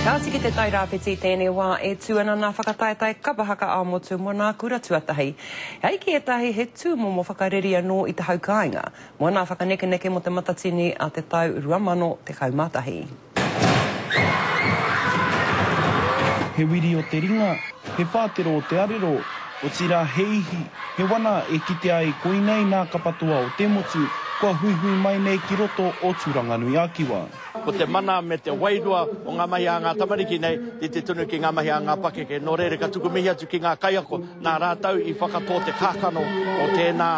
Kāti ki Te Tai Rāwhiti i tēnei wā e tū ana nā Whakataetae Kapa Haka ā-Motu mō nā Kura Tuatahi. E ai ki ētahi he tūmomo whakareri anō i te haukāinga mō nā Whakanekeneke mō Te Matatini a te tau 2011. He wiri o te ringa, he whātero o te arero, otirā he ihi, he wana e kitea ai koinei nā Kapatoa o te Motu kua huihui mai nei ki roto o Tūranganui-a-Kiwa. Ko te mana me te wairua o ngā mahi a ngā tamariki nei i te tunu ki ngā mahi a ngā pakeke. Nō reira ka tuku mihi atu ki ngā kaiako nā rātou i whakatō te kākano o tēnā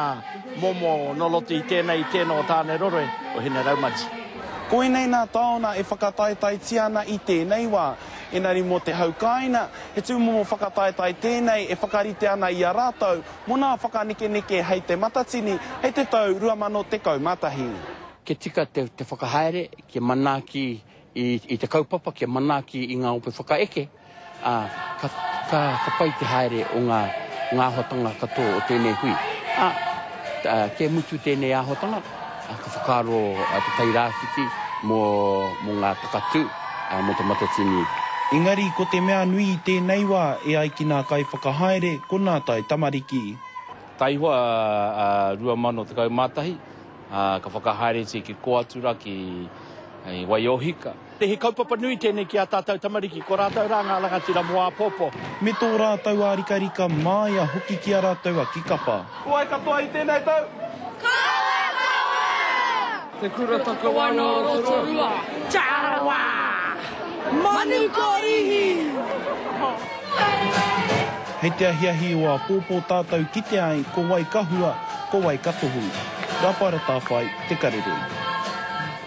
momo nō roto i tēnei, i tēnō o Tāneroroe, o Hineraumaji. Koinei nā tāona e whakataetaetia ana i tēnei wā. Engari mō te hau kāina, he tūmomo whakataetae tēnei e whakarite ana i a rātou mō nā whakanekeneke hei te Matatini, hei te tau 2011. kia tika te whakahaere, kia manaaki i te kaupapa, kia manaaki i ngā ope whakaeke, ā, ka pai te haere o ngā āhuatanga katoa o tēnei hui. Ā, kei mutu tēnei āhuatanga, ka whakaaro te Tairāwhiti mō ngā takatū, mō Te Matatini. Engari ko te mea nui i tēnei wā, e ai ki nā kaiwhakahaere, ko nā tae tamariki. Taihoa 2011, Ā, ka whakahaeretia ki kō atu rā, ki Waiohika. He kaupapa nui tēnei ki ā tātou tamariki, ko rātou rā ngā rangatira mō āpōpō. Me tō rātou ārikarika māia hoki ki a rātou a Kikapa. Ko wai katoa i tēnei tau? Ko wai katoa? Te Kura Takawa nō Rotorua. Tarawa! Manukōrihi! Hei te ahiahi o āpōpō tātou kite ai ko wai ka hua, ko wai ka tohu. Rapa ratāwhai te karere.